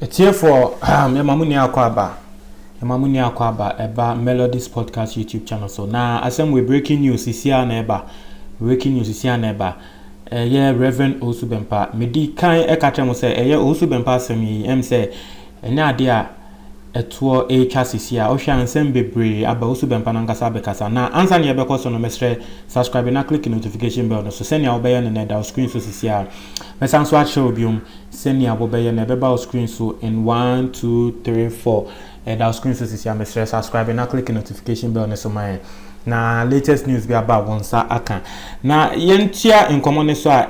Atiefoɔ, yɛma mo nua akɔ aba. Yɛma mo nua akɔ aba ɛba Melodies Podcast YouTube channel so. Na asɛm wɔ breaking news sisi a na ɛba. Breaking news sisi a na ɛba. Ɛyɛ Reverend Owusu Bɛmpa. Medi kan ɛka kyerɛ mo sɛ ɛyɛ Owusu Bɛmpa asɛm yi ɛm sɛ ɛnyɛ adeɛ a ɛtoɔ retwa sisi a wohwɛ a nsɛm bebree aba wo subɛmpa no ankasa abɛkasa na ansa na yɛbɛkɔ so no mɛsrɛ subscribe na click notification bell no so sɛnea wobɛyɛ no na ɛda wo screen so sisi a mɛsan nso akyerɛ wo biom sɛnea wobɛyɛ na ɛbɛba wo screen so in 1 2 3 4 ɛda wo screen so sisi a mɛsrɛ subscribe na click notification bell no so ma yɛn na latest news bi aba wɔn nsa aka na yɛntua nkɔmmɔ no so a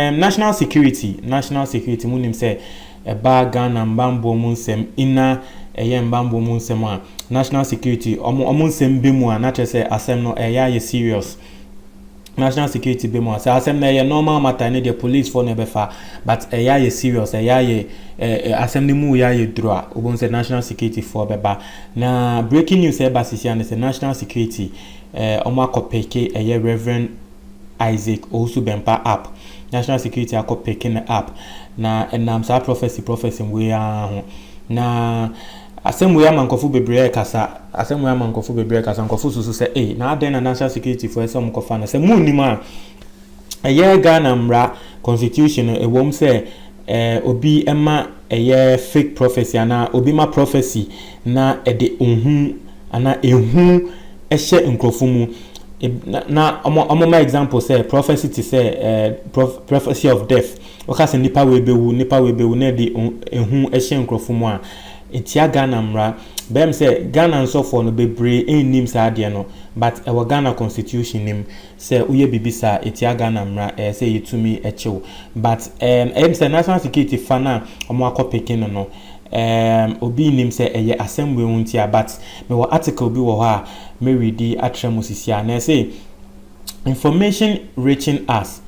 um, national security national security mu nim sɛ ɛbaa Ghana mbanboɔ mu nsɛm ina ɛyɛ mbanboɔ mu nsɛm a national security ɔmo ɔmo nsɛm bɛ mu a na kyerɛ sɛ asɛm no ɛyɛ ayɛ serious national security bɛ mu a sɛ asɛm no ɛyɛ normal matter ne deɛ police foɔ na ɛbɛfa but ɛyɛ ayɛ serious ɛyɛ ayɛ ɛɛ asɛm no mu yɛ ayɛ duro a wobɛhu sɛ national security foɔ bɛba na breaking news ɛba sisi a ne sɛ national security ɛɛ ɔmo akɔ peke ɛyɛ reverend Isaac Owusu Bempah app, National Security akɔ peke no app, na ɛnam saa prophecy prophecy wei ara ho. Na asɛm wei ama nkurɔfo bebree rekasa, asɛm wei ama nkurɔfo bebree rekasa, nkurɔfo susu sɛ ei, na adɛn na National Security foɔ sɛ wɔkɔfa no, sɛ munnim a, ɛyɛ Ghana mmara constitution no ɛwom sɛ eh, obi ma ɛyɛ fake prophecy anaa obi ma prophecy na ɛde ohu anaa ehu hyɛ nkurɔfo mu. Na na wɔn wɔn example sɛ prophecy te sɛ ɛɛ prophecy of death. Wɔka sɛ nipa wei bɛwu, nipa wei bɛwu na ɛde ehu hyɛ nkurɔfo mu a, etia Ghana mmara. Bɛyɛ me sɛ Ghana nsɔfoɔ no bebree nnim saa adeɛ no but ɛwɔ Ghana constitution no mu. Sɛ woyɛ biribi saa a etia Ghana mmara a, ɛyɛ sɛ yetumi kye wo. But ɛɛm ɛyɛ me sɛ national security fa no a wɔakɔ peke no no, ɛɛm obi nnim sɛ ɛyɛ asɛm wei ho ntia. But mewɔ article bi wɔ hɔ a me readi akyerɛ mo sisi a, na ɛse, Information reaching us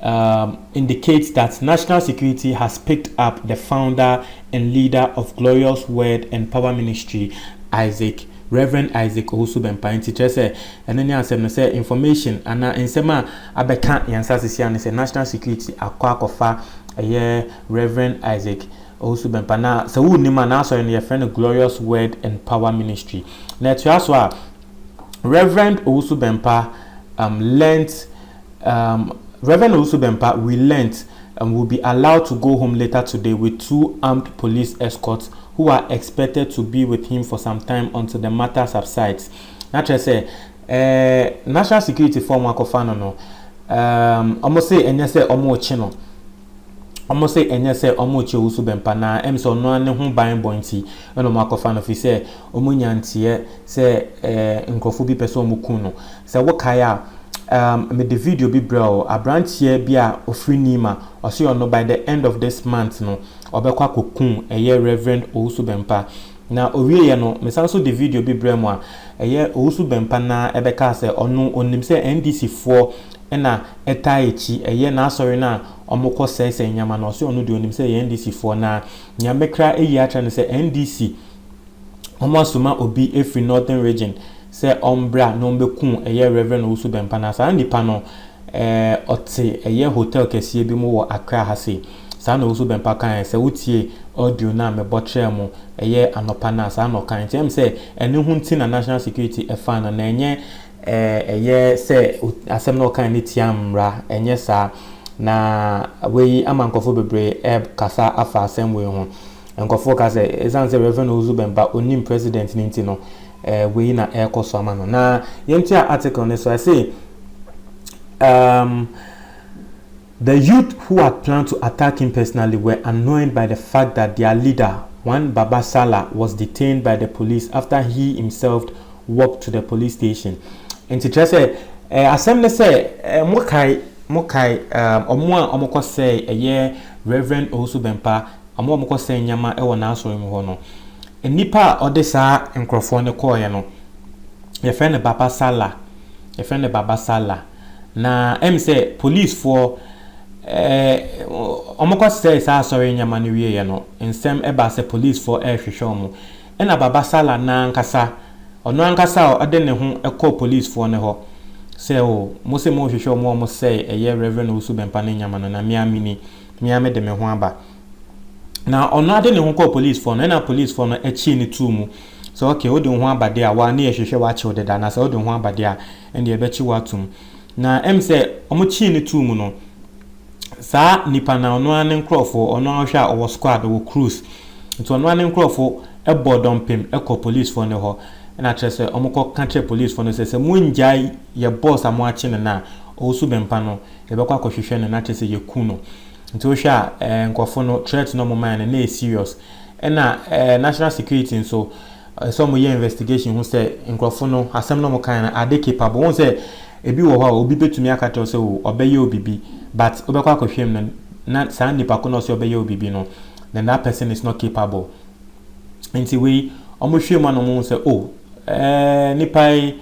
um indicates that national security has picked up the founder and leader of Glorious Word and Power Ministry, Isaac Rev. Isaac Owusu-Bempah, Enti kyerɛ sɛ ɛno ne asɛm no, sɛ information anaa nsɛm a abɛka yɛn nsasesin ano sɛ national security akɔ akɔfa ɛyɛ Rev. Isaac Owusu-Bempah na sɛ wonnim a n'asɔre no yɛfrɛ no Glorious Word and Power Ministry na ɛtoa so a Rev. Owusu-Bempah um, learnt Um, Rev. Owusu-Bempah, we learnt um will be allowed to go home later today with two armed police escorts who are expected to be with him for some time until the matter subsides. Na kyerɛ sɛ, eh, national security foɔ a wɔakɔfa no no, um, wɔn se ɛnyɛ sɛ wɔrekye no. wɔse ɛnyɛ sɛ wɔrekyɛ owusu bɛmpa na ɛm sɛ ɔno ara ne ho ban bɔ nti na wɔakɔfa no fi sɛ wɔnya nteɛ sɛ eh, nkurɔfoɔ bi pɛ sɛ wɔku no sɛ wokae a um, mede video bi brɛ o aberanteɛ bi a ɔfiri nima ɔse ɔno by the end of this month no ɔbɛkɔ akɔku ɛyɛ reverend owusu bɛmpa Na ɔwieeɛ no, mesan nso de video bi brɛɛ mo a ɛyɛ Owusu Bɛmpa no ara bɛkaa sɛ ɔno ɔnim sɛ NDC foɔ na ɛtaa akyi ɛyɛ n'asɔre no a wɔkɔ sɛesɛe nneɛma no, ɔse ɔno deɛ ɔnim sɛ ɛyɛ NDC foɔ na nea mɛkra ayi akyerɛ no sɛ NDC wɔn asoma obi afiri Northern Region sɛ ɔmbra na ɔmbɛku ɛyɛ Rev. Owusu Bɛmpa na saa nipa no ɛɛ ɔte ɛyɛ hotel kɛseɛ bi mu wɔ Accra ha sei. Saa na Owusu Bempah kae sɛ wotiee audio no a mebɔ kyerɛɛ mo, ɛyɛ anɔpa no a, saa na ɔkae. Nti ɛyɛ me sɛ ɛno ho nti na National Security ɛfaa no, na ɛnyɛ ɛyɛ sɛ asɛm no a ɔkae no tia mmara, ɛnyɛ saa. Na wei ama nkurɔfoɔ bebree ɛrekasa afa asɛm wei ho. Nkurɔfoɔ reka sɛ ɛsiane sɛ Rev. Owusu Bempah ɔnnim President no nti no, wei na ɛrekɔ so ama no. Na yɛntoa article no so, ɛse, um, The youth who had planned to attack him personally were annoyed by the fact that their leader, one Baba Sala, was detained by the police after he himselfed walked to the police station. Nti kyerɛ sɛ eh, asɛm ne sɛ eh, mokae mokae eh, ɔmo a ɔmo kɔ sɛe ɛyɛ Reverend Owusu Bɛmpa, ɔmo a ɔmo kɔ sɛe nneɛma ɛwɔ n'asɔre mu hɔ no. Nnipa a ɔde saa nkorɔfoɔ no kɔɔeɛ no, yɛfrɛ no Baba Sala, yɛfrɛ no Baba Sala. Na ɛm sɛ polisfoɔ ɛɛ wɔn kɔ sɛɛ saa asɔre nneɛma no wie yɛ no nsɛm ɛbaa sɛ polisfoɔ ɛɛhwehwɛ wɔn ɛna Baba Sala nankasa ɔno ankasa a ɔde ne ho ɛkɔɔ polisfoɔ no hɔ sɛ oo mo se mo rehwehwɛ wɔn a wɔn sɛɛ ɛyɛ Rev Owusu Bɛmpa no nneɛma no na me ara me ni me ara me de me ho aba na ɔno ade ne ho kɔɔ polisfoɔ no ɛna polisfoɔ no ɛkyee no too mu sɛ ok wo de wo ho aba deɛ a wa ne yɛ hwehwɛ wa kyew deda na sɛ wo de wo ho aba deɛ a ɛnde yɛbɛkye wo atom. Na ɛm sɛ wɔkyee no too mu no, saa nipa no a ɔno ara ne nkurɔfo, ɔno ara wohwɛ a ɔwɔ squad, ɔwɔ crews, nti ɔno ara ne nkurɔfo bɔɔ dɔmpem kɔ polisfoɔ no hɔ, ɛna kyerɛ sɛ wɔkɔka kyerɛɛ polisfoɔ no sɛ, sɛ mongyae yɛ boss a moakye no no a, ɔwusu bɛmpa no, yɛbɛkɔ akɔhwehwɛ no na kyerɛ sɛ yɛku no. Nti wohwɛ a ɛɛ nkurɔfo no threat no wɔmaeɛ no na ɛyɛ serious. Ɛna ɛɛ national security nso, Ɛsɛ sɛ wɔyɛ investigation hu sɛ nkurɔfo no asɛm no a wɔkae no are they capable. Wohu sɛ ebi wɔ hɔ a obi betumi aka kyerɛ wo sɛ oh ɔbɛyɛ wo biribi but wobɛkɔ akɔhwɛ mu no na saa nipa ko no a ɔse ɔbɛyɛ wo biribi no then that person is not capable. Nti wei wɔhwɛ mu a na wɔhu sɛ oh eh nipa yi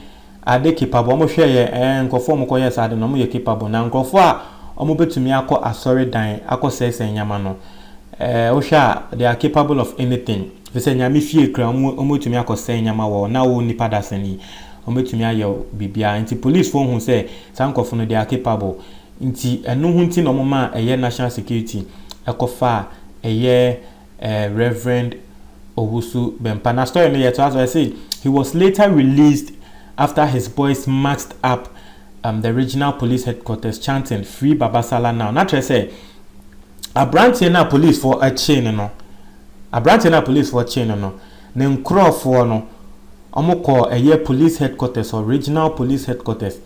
Ade capable, wɔn hwɛ yɛ ɛɛ nkorɔfoɔ wɔn kɔ yɛ saa ade no wɔn yɛ capable na nkorɔfoɔ a wɔn bɛtumi akɔ asɔre dan akɔ sɛɛsɛɛ nneɛma no ɛɛ wo hwɛ a they are capable of anything firi sɛ nyame fie kura wɔn wɔn bɛtumi akɔ sɛɛ nneɛma wɔ hɔ na wo nipa dasani wɔn bɛtumi ayɛ biribiara nti police foɔ hu sɛ saa nkorɔfoɔ no they are capable nti ɛno ho nti na wɔn maa ɛyɛ national security ɛkɔ faa ɛyɛ eh, Reverend Owusu Bempah. Na story no yɛ to aso say he was later released after his boys marched up um, the regional police headquarters chanting free Babasala now. Na kyerɛ sɛ aberanteɛ no a policefoɔ akyee no no aberanteɛ no a policefoɔ kyee no no ne nkurɔfoɔ no wɔkɔɔ ɛyɛ police headquarters or regional police headquarters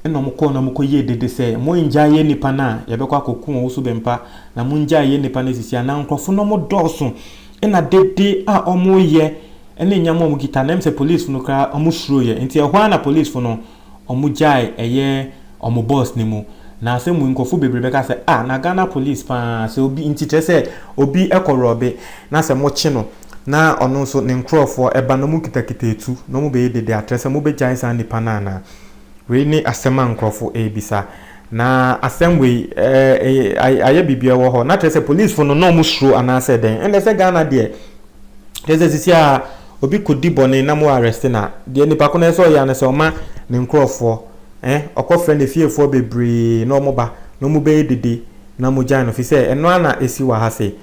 Ɛnna wɔkɔɔ na wɔkɔyɛɛ dede sɛ, Mongyae yɛn nnipa no a yɛbɛkɔ akɔko wɔn so bɛmpa, na mongyae yɛn nnipa no asisi ha. Ná nkurɔfo no dɔɔso, ɛnna dede a wɔreyɛ ne nyɛmmoa a wɔkita no, ɛyɛ sɛ polisifo no koraa wɔsuro yɛ. Enti ɛhɔ ara na polisifo no wɔgyae ɛyɛ wɔn bɔs no mu. Na asɛm wei, nkurɔfo bebree bɛka sɛ, Ah, na Ghana polis paa, sɛ obi nti kyerɛ sɛ obi kɔ rɔbe na sɛ mokye no, Na ɔno nso ne nkurɔfoɔ ɛba na wɔkitakita atu na wɔbɛyɛ dede akyerɛ sɛ mobɛgyae saa nipa no anaa? Wei ne asɛm a nkurɔfoɔ ɛrebisa. Na asɛm wei ɛɛ ayɛ biribi ɛwɔ hɔ. Na kyerɛ sɛ polisfoɔ no na wɔsuro anaasɛ dɛn? Ɛnna sɛ Ghana deɛ kyerɛ sɛ sisi a obi kɔdi bɔne na mo arrest no a, deɛ nipa ko no ɛsɛ sɛ ɔyɛ ara ne sɛ ɔma ne nkurɔfoɔ ɛ ɔkɔfrɛ ne fiefoɔ bebree na wɔba na wɔbɛyɛ dede na mogyae no. Ɛfiri sɛ ɛno ara na ɛsi wɔ ha sei.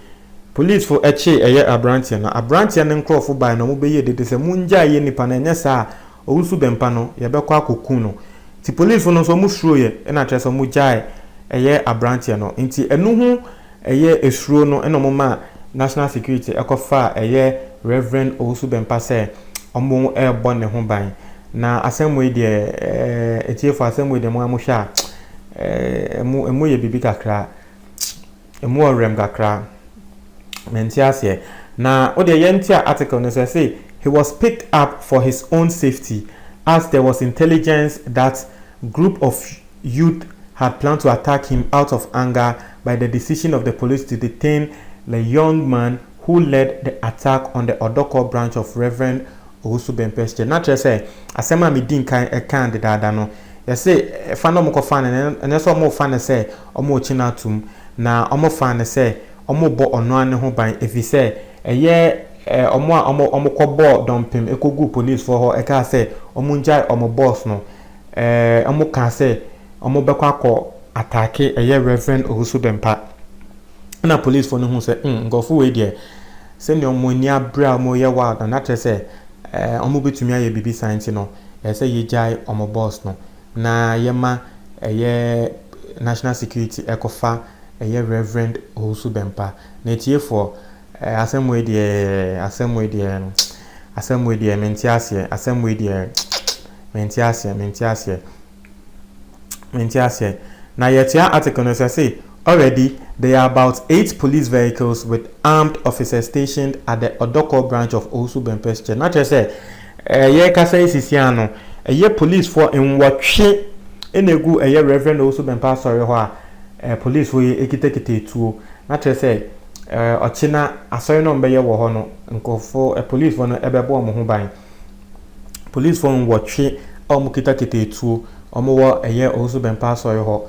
Polisifo kyee ɛyɛ aberanteɛ no. Aberanteɛ no nkorɔfo bae na wɔbɛyɛɛ dede sɛ, Mongyae yɛn nipa no, ɛnyɛ saa a, ɔresu bɛmpa no, yɛbɛkɔ akɔku no. Nti polisifo no nso wɔsuroeɛ, ɛna kyerɛ sɛ wɔgyaee ɛyɛ aberanteɛ no. Nti ɛno ho ɛyɛ suro no na wɔmaa National Security kɔfaa ɛyɛ Rev. Owusu Bɛmpa sɛ wɔrebɔ ne ho ban. Na asɛm wei deɛ, atiefoɔ asɛm wei deɛ mo ara mohwɛ a, ɛmu yɛ biribi kakra. Emu wɔ werɛm kakra. Mente aseɛ. Na wodeɛ yɛntua article no sɛ se he was picked up for his own safety as there was intelligence that group of youth had planned to attack him out of anger by the decision of the police to detain the young man who led the attack on the Odorkor branch of Rev. Owusu Bempeh Church. Na kyerɛ sɛ asɛm a medi nkan kaa dedaada no, yɛse fa na wɔkɔfa no, ɛnyɛ sɛ wɔrefa no sɛ Wɔregye no atom, na wɔfaa no sɛ wɔrebɔ ɔno ara ne ho ban efisɛ ɛyɛ wɔn a wɔkɔbɔɔ dɔmpem koguu polisifo hɔ kaa sɛ wɔngyae wɔn bɔs no. Wɔkaa sɛ wɔbɛkɔ akɔ ataake ɛyɛ Rev. Owusu Bempah. Ɛnna polisifo no huu sɛ, hmm, nkurɔfo wei deɛ, sɛnea wɔn ani abere a wɔreyɛ wild no, na kyerɛ sɛ wɔbɛtumi ayɛ biribi saa nti no, ɛsɛ sɛ yɛgyae wɔn bɔs no. na yɛma ɛyɛ national security ɛkɔfa ɛyɛ Rev. Owusu Bɛmpa. Na atiefoɔ, eh, asɛm wei deɛ, asɛm wei deɛ, asɛm wei deɛ, mente aseɛ, asɛm wei deɛ, mente aseɛ, mente aseɛ, mente aseɛ. Na yɛkyea article no sɛ se, Already, there are about eight police vehicles with armed officers stationed at the Odokor branch of Owusu Bɛmpa's church. Na kyerɛ sɛ, Eh yɛrekasa yi sisiaa no ɛyɛ polisfoɔ nwɔtwe na ɛgu ɛyɛ Rev Owusu Bɛmpa Asɔre hɔ a eh polisfoɔ yi ɛkitakita ɛtuo na kyerɛ sɛ eh ɔkyena asɔre no a wɔbɛyɛ wɔ hɔ no nkorɔfoɔ eh polisfoɔ no ɛbɛbɔ wɔn ho ban. Polisfoɔ nwɔtwe a wɔn kitakita ɛtuo wɔn wɔ ɛyɛ Owusu Bɛmpa Asɔre hɔ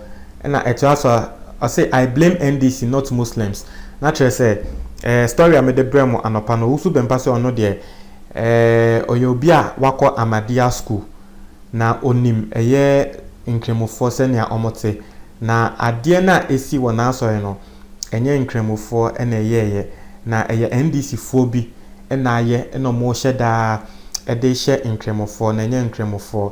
ɛna ɛtoa so a ɔse I blame NDC not Muslims na kyerɛ sɛ eh story a mede brɛ mo anɔpa no Owusu Bɛmpa se ɔno deɛ Ɔyɛ obi a wakɔ Ahmadiyya School, na onim ɛyɛ Nkramofoɔ sɛnea wɔte. Na adeɛ no a ɛsi wɔ n'asɔre no, ɛnyɛ Nkramofoɔ na ɛyɛeɛ, na ɛyɛ NDC foɔ bi na ayɛ na wɔhyɛ da de hyɛ Nkramofoɔ, na ɛnyɛ Nkramofoɔ.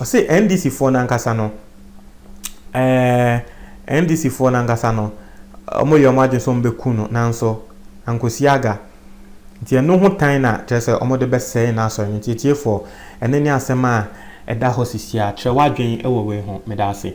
Ɔse NDC foɔ no ankasa no ɛɛɛ NDC foɔ no ankasa no ɔmo yɛ ɔmo adwene sɛ ɔmo bɛ ku no nanso ankosi aga nti ɛno ho tan na kyerɛ sɛ ɔmo de bɛ sɛe n'asɔre no nti atiefoɔ ɛno ne asɛm a ɛda hɔ sisi a kyerɛ w'adwene wɔ wei ho meda ase.